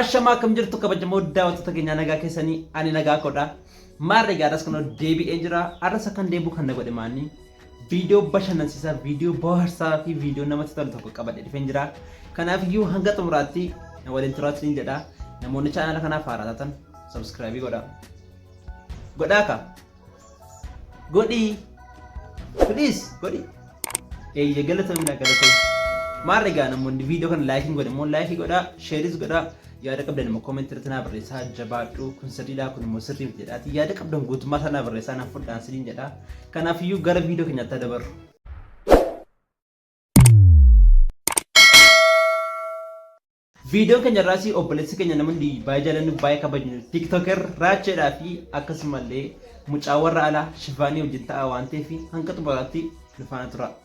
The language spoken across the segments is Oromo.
Ashamaa akkam jirtu kabajamoo daawwattoota keenyaa nagaa keessanii ani nagaa kodha. Maarree gaadhas kunoo deebi'ee jira. Arras akkan deebi'u kan na godhe maanni. Viidiyoo bashannansiisaa, viidiyoo bohaarsaa fi viidiyoo namatti tolu tokko qabadhe dhufeen jira. Kanaaf iyyuu hanga xumuraatti na waliin turaatti siin jedha. Namoonni chaanala kanaaf haaraa taatan sabskraayibii godha. Godhaa ka. Godhii. Please godhi. Eeyyee galatoomina galatoomina. Maal egaa namoonni viidiyoo kana laayikiin godhe immoo laayikii godhaa, sheeris godhaa. yaada qabdan immoo comment irratti naa barreessaa jabaadhu kun sirriidhaa kun immoo sirrii miti jedhaati yaada qabdan guutummaa isaa naa barreessaa naaf fudhaan siniin jedha kanaafiyyuu gara viidiyoo keenyaatti dabarru. Viidiyoo keenya irraas obboleessi keenya namoonni baay'ee jaalannu baay'ee kabajnu tiktoker raacheedhaa fi akkasumallee mucaa warra alaa shifaanii wajjin ta'a waan ta'eef hanga xumuraatti nu faana tura.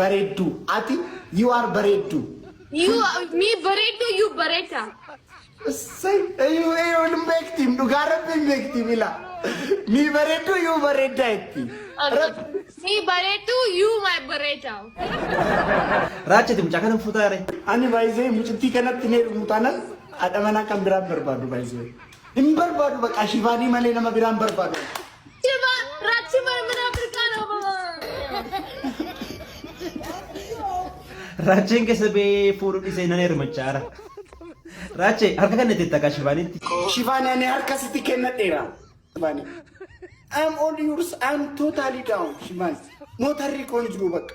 bareedduu ati you are bareedduu. You me bareedduu you bareeda. Sai ayu ayu hin beektiin dhugaa rabbi hin beektiin ila mi bareedduu you bareeddaa itti. Rabbi Me bareedduu you my bareeda. Raacha itti mucaa kana fuutaa ree. ani baay'isee mucittii kanatti ni heerumu taanan haadha manaa kan biraan barbaadu baay'isee. Hin barbaadu baqaa shifaanii malee nama biraa hin barbaadu. Shifa rachi mana mana Afrikaa dha baba. Raacheen keessa bee fuudhu dhisee nan hermachaara. Raachee harka kan itti takka shifaanitti. Shifaanii ani harka sitti kennadheera. Shifaanii. I'm all yours. I'm totally down. Shifaanii. Mootarri koon jiru bakka.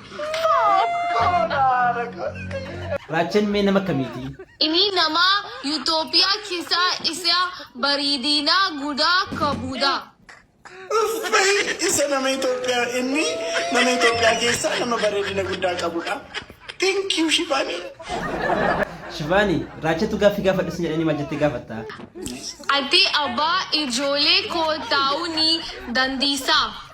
Raachan mee nama akkamiiti? Ini nama Utopia kisa isa baridina guda kabuda. Isa nama Itoophiyaa inni nama Itoophiyaa keessaa nama bareedina guddaa qabudha. Thank you Shibaani. Shivaani, Raachatu gaaffii gaafadhu sin jedhanii maal jettee gaafatta? Ati abbaa ijoollee koo ta'uu ni dandeessaa?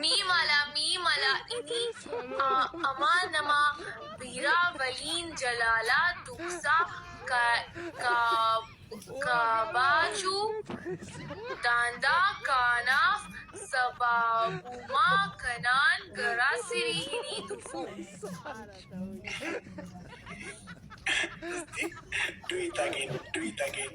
Nii mala mii mala ini amaa namaa biiraa valiin jalaalaa dugsaa kabaachuu daandaa kaanaaf sabaabumaa kanaan garaa sirii hinii tufuu. Do it again. Do it again.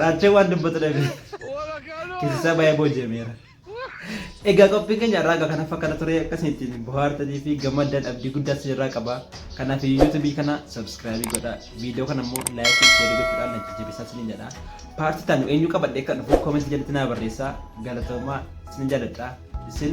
Raachee waan dubbatu dhabe. Keessaa baay'ee booji'ameera. Egaa qophiin keenya irraa egaa kanaaf akkana ture akkasii ittiin bohaartanii fi gammaddan abdii guddaa isin irraa qaba. Kanaaf yuutuubii kana sabskraayibii godha. Viidiyoo kana immoo laayikii sheerii gochuudhaan na jajjabeessaa isiniin jedha. Paartii taanu eenyu qabadhee kan dhufu koomentii jalatti naa barreessaa. Galatoomaa isin jaaladha. Isin